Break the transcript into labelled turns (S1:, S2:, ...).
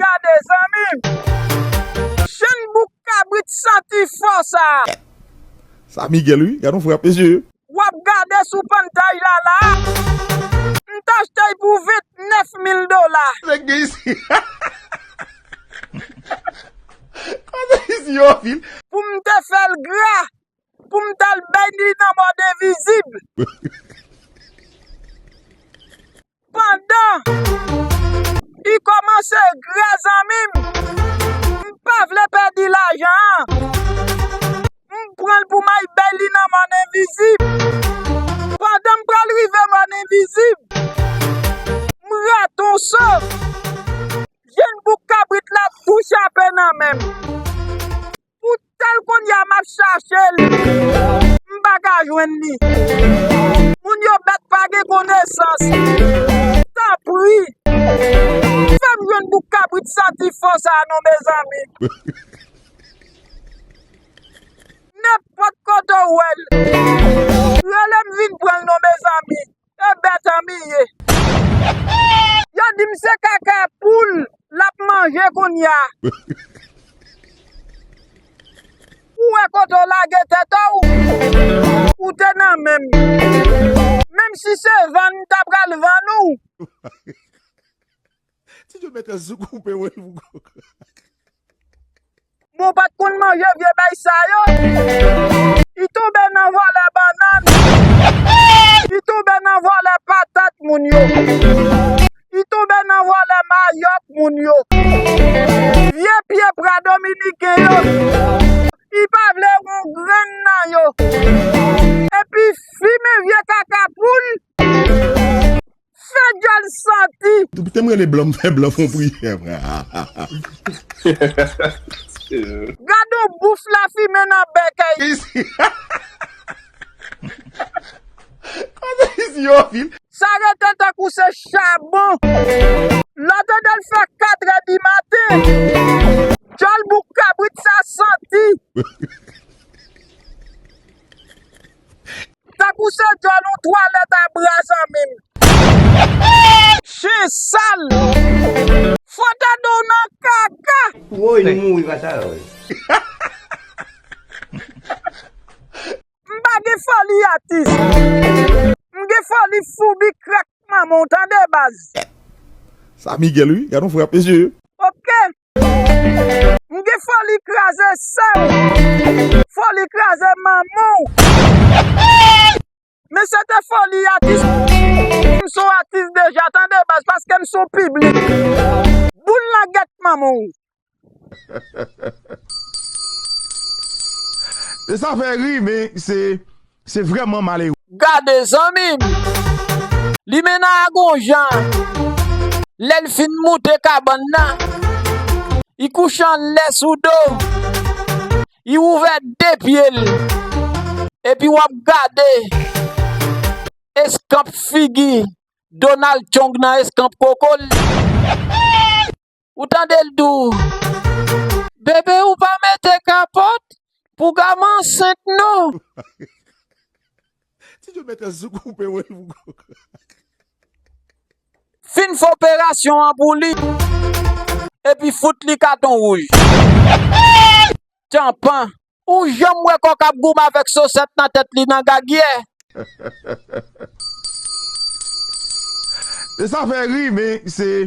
S1: gade zanmim. Chen bouk kabrit santi fò sa. Sa
S2: Miguel wi gadon frap mesye. Wap gade
S1: sou pantay la la. M t achte l pou 29 mil dola. Nèg gen isi
S2: Koze isi yo anpil. Poum te fel
S1: gra Pou m tal beny li nan mòd envizib. Pandan li kòmanse grè zanmi m. M pa vle pèdi lajan an. M pran l pou m al beny li nan mòn envizib. Pandan m pral rive mòn envizib. M rate yon so. Jenn bouk kabrit la tou chape nan men m. Pou tel kounya map chache l. M pa ka jwenn li. Moun yo bèt pa gen konesans. Tanpri. Fè m jwenn bouk kabrit santi fò sa non mezanmi. Nenpòt kote w wè l. Rele m vin pran l non mezanmi. E bèt an mi ye. Yo dim se kaka poul lap manje kounya. Ou wè kote w lage tèt ou? Ou te nan menm. Menm si se vann ta pral vann ou.
S2: Ti djo mèt sou koupe woy pou kok.
S1: Bon pat konn manje vye bèy sa yo. Li tonbe nan vòlè banann. Li tonbe nan vòlè patat moun yo. Li tonbe nan vòlè mayòk moun yo. Vye pye pra dominiken yo. Li pa vle yon grenn nan yo. Epi fimen vye kaka poul. Fe gyal santi. Depi tem rele blan m
S2: fe blan fon priyè mwen.
S1: Gad on bouf la fimen nan bèk ayiti.
S2: Koze isit yo anpil. Sa rete tankou
S1: se chabon. Lò tande l fè 4 è di maten. Dyòl bouk kabrit sa santi. Tankou se dyòl yon twalèt a bra zanmim. Chen sal. Fo tande w nan kaka. Woy nou mouri pa
S3: sa yo wi.
S1: M pa gen foli atis. M gen foli foubi krak manman w tande baz. Sa
S2: Miguel wi gadon frap mesye. Ok
S1: M gen foli kraze sèm. Foli kraze manmanw. Men se te foli atis. M son atis deja tande baz paske m son piblik. Boul nan gèt manmanw.
S2: Sa fè ri men se Se vreman malere. Gade zanmim!
S1: Limena a gon jan lè l fin moute kabann nan, i kouche anlè sou do, i ouvè 2 pye l epi w ap gade eskanp figi Donald Tjong nan eskanp koko l. Ou tande l di w, Bebe ou pa mete kapòt pou Gama ansent non.
S2: Ti Djo met an zouk koupe wè l pou Gama.
S1: Fin fè operasyon an pou li epi fout li katon wouj. Tchanpan. Ou janm wè kòk ap goumen avèk sosèt nan tèt li nan gagyè.
S2: Sa fè ri men se.